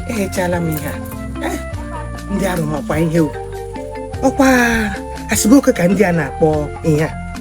eghechala m ihe a Eh, ndị arụ makwa ihe o ọkwa asịbụ oke ka ndị a na-akpọ ihe a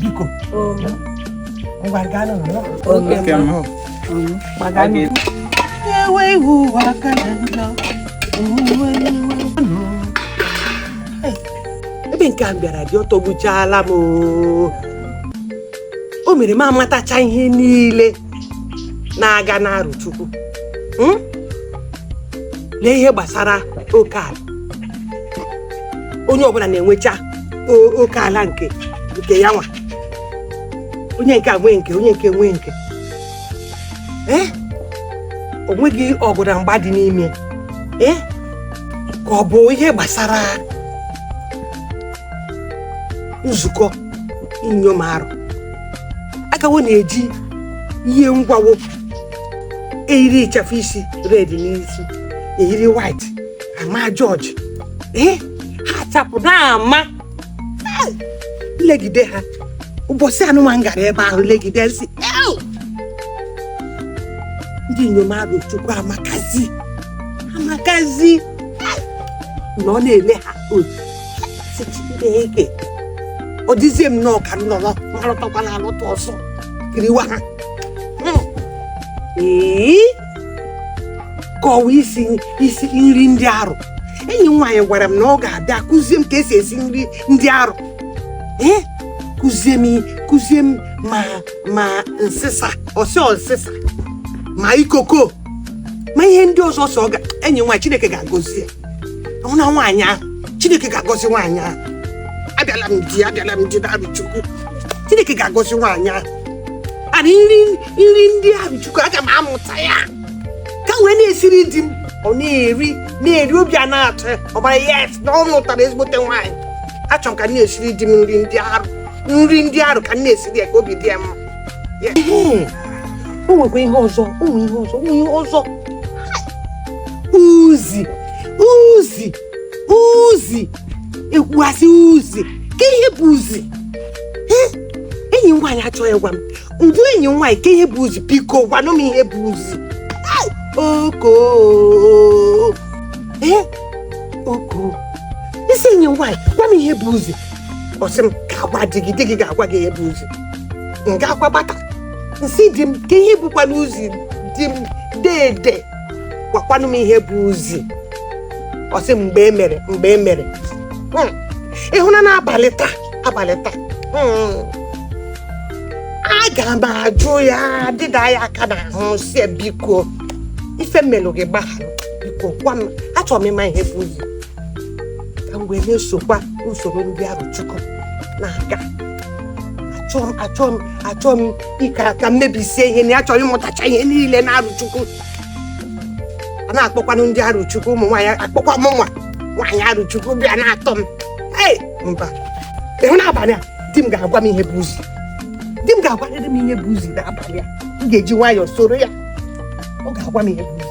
biko ngwa gaa n'ụlọ ewe ihu ụwa aka na njọ ebe nke m bịara di ọ tọgbuchaala m o mere m amatacha ihe niile na-aga n'Arochukwu hmm? lee ihe gbasara oke ala onye ọbụla na-enwecha o- oke ala nke nke ya nwa onye nke a nwee nke onye nke nwee nke ee o nweghị ọgụ na mgba dị n'ime ee ka ọ bụ ihe gbasara nzukọ inyom arụ aka wo na-eji ihe ngwa wo eyiri ịchafụ isi red n'isi eyiri white ama jọjị ee ha chapụ n'ama m legide ha ụbọchị anụnwa m gara ebe ahụ legide sị "Ew!" ndị inyom Arochukwu amakazi amakazi nọ na-ele ha otu sị chineke ọ dịzie m nnọọ ka m nọrọ marụtakwana alụta ọzọ kiriwa ha Mm. ee kọwa isi isi nri ndị arụ enyi m nwaanyị gwara m na ọ ga-abịa kụzie m ka e si esi nri ndị arụ ee kụzie m kụzie m ma ma nsịsa ọsị ọsịsa ma ikoko ma ihe ndị ọzọ sọ ọ ga enyi m nwaanyị chineke ga-agọzi ya ọ na nwaanyị ahụ chineke ga-agọzi nwaanyị ahụ abịala m di abịala m di n'Arochukwu chineke ga-agọzi nwaanyị ahụ ana nri nri ndị Arochukwu aga m amụta ya ka wee na-esiri di m ọ na-eri na-eri obi a na-atọ ya ọ mara yes na ọ lụtara ezigbote nwaanyị achọrọ m ka m na-esiri di m nri ndị arụ nri ndị arụ ka m na-esiri ya ka obi dị ya mma Ya. Ee, o nwekwa ihe ọzọ o nwe ihe ọzọ o nwe ihe ọzọ uzi uzi uzi e kwua sị uzi kee ihe bụ uzi Eh, enyi m nwaanyị achọghị ịgwa m Udu enyi nwaanyị kee ihe bụ uzi biko gwanụ m ihe bụ uzi Ai, oko ee oko nsị enyi nwaanyị gwa m ihe bụ uzi ọ sị m gaa gwa di gị di gị ga-agwa gị ihe bụ uzi m gaakwa bata nsị di m kee ihe bụkwanụ uzi di m dede gwakwanụ m ihe bụ uzi ọ sị m mgbe e mere mgbe e mere Hmm. ị hụna n'abalị taa abalị taa Hmm. aga m ajụ ya dịda ya aka n'ahụ sị ya biko ife m melụ gị gbaghara biko gwa m achọrọ m ịma ihe bụ uzi ka m wee na-esokwa usoro ndị Arochukwu na-aga achọọ m achọọ m achọọ m ịka ka m mebisie ihe na achọrọ ịmụtacha ihe niile na Arochukwu a na-akpọkwanụ ndị Arochukwu ụmụ nwaanyị a kpọkwa m nwa nwaanyị Arochukwu bịa na-atọ m Hey! mba ị hụ n'abalị a di m ga-agwa m ihe bụ uzi di m ga-agwarịrị m ihe bụ uzi n'abalị a m ga-eji nwayọọ soro ya ọ ga-agwa m ihe bụ uzi